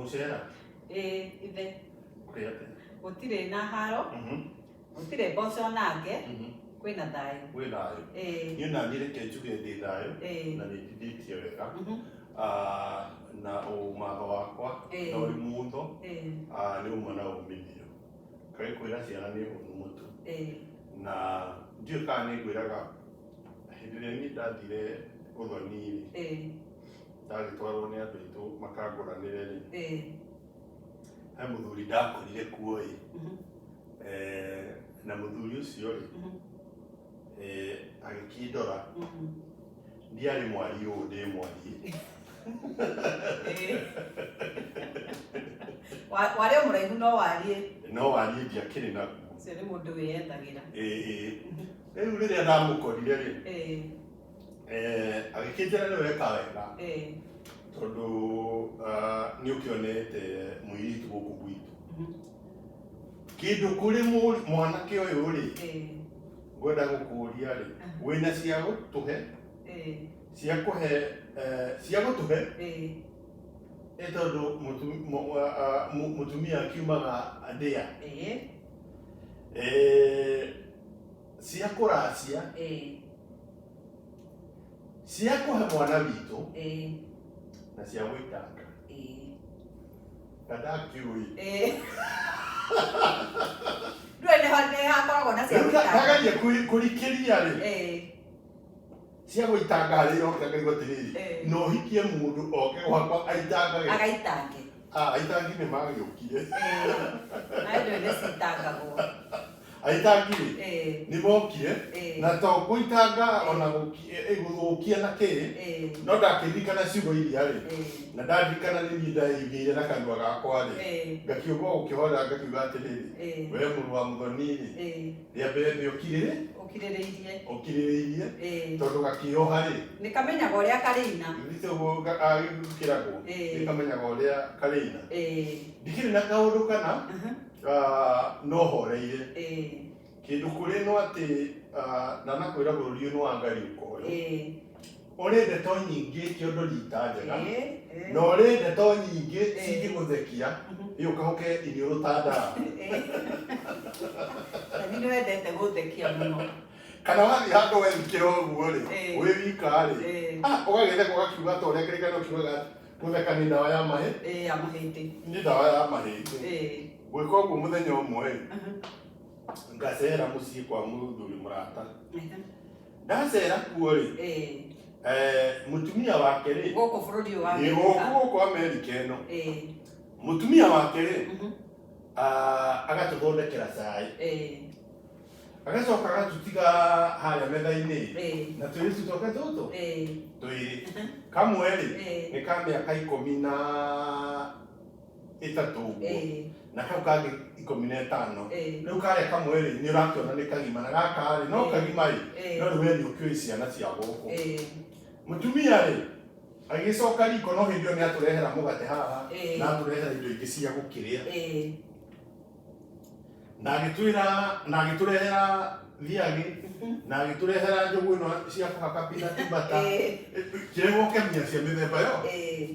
Gũcera. Eh, ithe. Kũrĩ atĩa? Gũtirĩ na haro. Mhm. Gũtirĩ mboco na nge. Mhm. Kwĩ na thayũ. Kwĩ thayũ. Eh. Niĩ na niĩ reke njuge ndĩ thayũ. Eh. Na nĩ njithĩtie wega. Mhm. Ah, na ũmatho wakwa. Eh. Na ũrĩ mũtho. Eh. Ah, nĩ ũma na ũmithio. Kaĩ kwĩra ciana nĩ ũhũthũ mũtu. Eh. Na ndiũĩ kana nĩ ngwĩraga hĩndĩ ĩrĩa niĩ ndathire ũthoni-rĩ. Eh. ndagĩtwarwo nĩ andũ aitũ makangũranĩre rĩ Eh, he mũthuri ndakorire kuo ĩ mhm, Eh, na mũthuri ũcio rĩ mhm, eh, agĩkĩndora mhm. ndiarĩ mwari ũũ ndĩ mwari Eh. Wa- warĩ o mũraihu no wariĩ no wari ndiakĩrĩ naguo ũcio nĩ mũndũ wĩyendagĩra Eh, eh. rĩu rĩrĩa ndamũkorire rĩ Eh, Eh, agĩkĩnjĩra nĩ weka wega Eh, tondũ ah, nĩ ũkĩonete mũirĩtu gũkũ gwitũ mhm, kĩndũ kũrĩ mũ- mwanake ũyũ rĩ eh, ngwenda gũkũria rĩ wĩna cia gũtũhe eh, cia kũhe eh, cia gũtũhe eh, nĩ tondũ mũtu- mũ- ah, ah, mũ- mũtumia akiumaga ndĩa eh. Eh, cia kũracia ĩĩ, cia kũhe mwana witũ ĩĩ, na cia gwĩtanga ĩĩ, ndandakĩũĩ ĩĩ. Ndũĩ nĩho- nĩhakoragwo na cia rĩu gũtanga. ndagarie kũrikĩria rĩ Ĩĩ, cia gũitanga harĩa iroka ngaigua atĩrĩrĩ Eh. no hikie mũndũ oke gwakwa aitangage agaitange Ah, aitangi nĩ magĩũkire nawe ndũĩ nĩ citangagwo aitangi rĩ Eh, nĩ mokire Eh. na to gũitanga ona gũki- eh, eh, gũthũkia na kĩ eh, no ndakĩririkana ciugo iria rĩ eh, na ndaririkana nĩ niĩ ndaigĩire na kanua gakwa rĩ eh, ngakiuga gũkĩhora ngakiuga atĩrĩrĩ eh, we mũrũ wa mũthoni rĩ eh. rĩa mbere nĩ ũkirĩrĩ ũkirĩrĩirie ũkirĩrĩirie Ĩĩ. tondũ gakĩoha rĩ nĩ kamenyaga ũrĩa karĩina nĩtĩguo gagĩkĩragwo Ĩĩ. nĩkamenyaga ũrĩa karĩina Ĩĩ. ndikĩrĩ na kaũndũ kana Aha. ah, no horeire Ĩĩ. kĩndũ kũrĩ no atĩ ah, ndanakwĩra bũrũri ũyũ nĩ wa ngai ũkoyo Ĩĩ. Ũrĩ ndeto nyingĩ ti ũndũ riita njega, Ĩĩ, ĩĩ. na ũrĩ ndeto nyingĩ Ĩĩ. cingĩgũthekia, Mhm. ĩ ũkahoke iniũrũ ta ndara. Nani nĩ wendete gũthekia mũno. Kana wathiĩ handũ wethikĩra ũguo rĩ, Ĩĩ. wĩ wika rĩ, Ĩĩ. ah, ũgagĩtheka ũgakiuga ta ũrĩa kĩrĩkanĩro kiugaga atĩ, gũtheka nĩ ndawa ya mahĩ, Ĩĩ, ya mahĩndĩ. nĩ ndawa ya mahĩndĩ. Ĩĩ. Ngwĩka ũguo mũthenya ũmwe rĩ, Mhm. ngacera mũciĩ kwa mũthuri mũrata. Ehe. ndacera kuo-rĩ Eh, eh, mũtumia wake-rĩ gũkũ bũrũri ũyũ wa nĩ gũkũ Amerika. gũkũ amerika ĩno Eh, mũtumia wake-rĩ mhm, ah, agatũthondekera cai eh, agacoka agatũtiga harĩa metha-inĩ eh, na tũirĩtu twake tũtũ eh, twĩrĩ kamwe-rĩ eh. nĩ ka mĩaka ikũmi na ĩtatũ ũguo Ĩĩ. na kau kangĩ ikũmi na ĩtano Ĩĩ. rĩu karĩa kamwe rĩ nĩ ũrakĩona nĩ kagima na gaka rĩ no Ĩĩ. kagima rĩ Ĩĩ. no rĩu we nĩ ũkĩũĩ ciana cia gũkũ Ĩĩ. mũtumia rĩ agĩcoka riko no hĩndĩ ĩyo nĩ atũrehera mũgate haha Ĩĩ. na atũrehera indo ingĩ cia gũkĩrĩa Ĩĩ. na agĩtwĩra na agĩtũrehera thiagĩ na agĩtũrehera njũgũ ĩno cia kũhaka peanut butter Ĩĩ. kĩrĩa gũkemia cia mĩthemba yo Ĩĩ.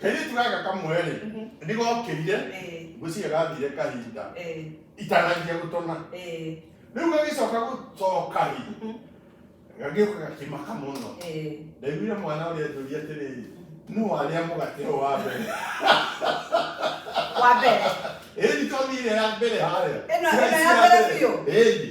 kairĩtu gaka kamwe-rĩ Mhm. nĩgokĩire Eh, ngwĩciria gathire kahinda eh, itananjia gũtona eh, rĩu gagĩcoka gũcoka-rĩ mhm, gagĩũka gakĩmaka mũno eh. ndaiguire mwana ũrĩa njũria atĩrĩrĩ nũ warĩa mũgate ũyũ wa mbere Wa mbere. ĩni tondire ya mbere harĩa Ĩno- ĩno ya mbere biũ? ĩni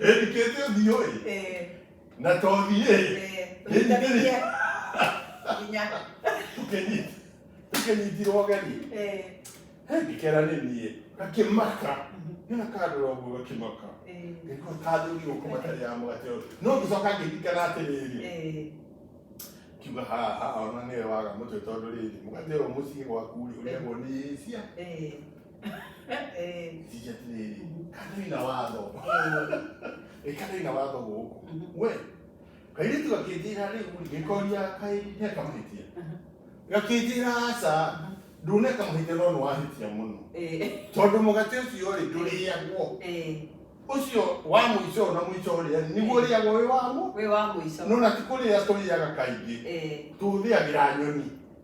Ĩndikĩte ũthiũ ĩ. Eh, Na tothi ĩ. eh, tũnyitithanĩrie. Nginya. Tũkĩnyit. Tũkĩnyitirwo gani. Eh, Ngĩkera nĩ niĩ. Gakĩmaka. Nĩna kandora ũguo gakĩmaka. eh, Ngĩkua kathũrirwo kuma tarĩ ya mũgate ũyũ. No ngĩcoka ngĩririkana atĩrĩrĩ. eh, Kiuga haha ona nĩwe waga mũtwe tondũ rĩrĩ mũgate ũyũ mũciĩ gwaku rĩ ũrĩagwo nĩ Asia. eh. Eh, Tija tiriri. Kadu ina watho. eh, Eh, kadu ina watho guku. mhm, We. Kairitu gakindira riu ngikoria kai ne kamahitia. Gakindira aca. Ndune kamahitia no nwahitia muno. eh, Tondu mugate ucio ri nduriagwo. eh. Ucio wa muico na muico uria niguo riagwo wi wamo. Wĩ wa mũico. No na ti kuria turiaga kaingi. Eh, Tuthiagira nyoni.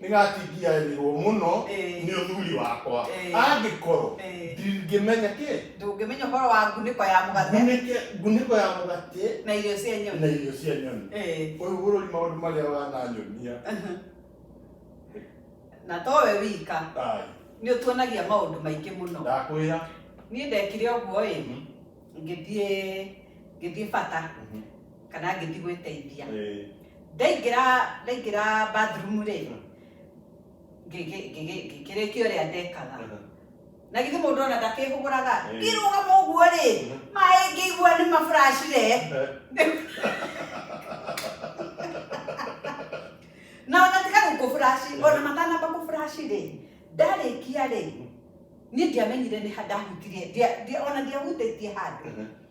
nĩ gatingiagĩrĩrwo mũno Ĩĩ. nĩ ũthuri wakwa Ĩĩ. angĩkorwo Ĩĩ. ndingĩmenya kĩ ndũngĩmenya ũhoro wa ngunĩko ya mũgate ngunĩke- ngunĩko ya mũgate na irio cia na nyoni irio cia nyoni Ĩĩ. ũyũ bũrũri maũndũ marĩa wananyonia na to we wika Ai, nĩ ũtuonagia maũndũ maingĩ mũno ndakwĩra niĩ ndekire ũguo ĩ Mhm, ngĩthiĩ ngĩthiĩ bata mhm. kana ngĩthi gwĩteithia Eh, ndaingĩra ndaingĩra bathroom rĩ Mm. ngĩgĩ- ngĩgĩ- ngĩkĩrĩkia ũrĩa ndekaga aha. na githĩ mũndũ ona ndakĩhũgũraga Eh. ngĩrũgama ũguo rĩ Mhm. maĩ ngĩigua nĩ maburacire na ona tiga gũkũburaci Eh. ona matanamba kũburaci rĩ ndarĩkia rĩ niĩ ndiamenyire nĩ ha ndahutirie ndia- ndia- ona ndiahutĩtie handũ Aha.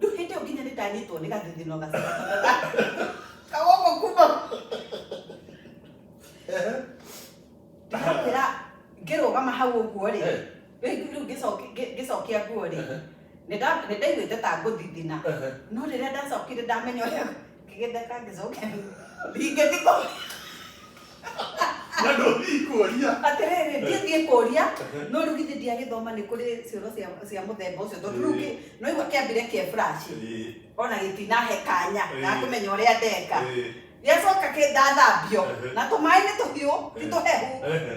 Rĩu hĩndĩ ĩyo nginya nĩ ndanyitwo nĩ gathithino gacaga kawoko kuma ndĩrakwĩra ngĩrũgama hau ũguo rĩ Eh. rĩu rĩu ngĩcoki- ngĩ- ngĩcokia nguo rĩ Ehe. nĩ nda- nĩ ndaiguĩte ta ngũthithina Ehe. no rĩrĩa ndacokire ndamenya ũrĩa Ngĩgetha kangĩcoke ringe thikũ. Na ndũthiĩ kuoria. Atĩrĩrĩ, ndiĩ thiĩ kũria, no rĩu githĩ ndiagĩthoma nĩ kũrĩ cioro cia cia mũthemba ũcio tondũ rĩu kĩ- no igua kĩambire kĩa flash Ĩĩ, ona gĩtinahe kanya Ĩĩ. ga kũmenya ũrĩa ndeka ĩĩ, gĩacoka kĩndathambio Ehe. na tũmaĩ nĩ tũhiũ ti tũhehu ehe.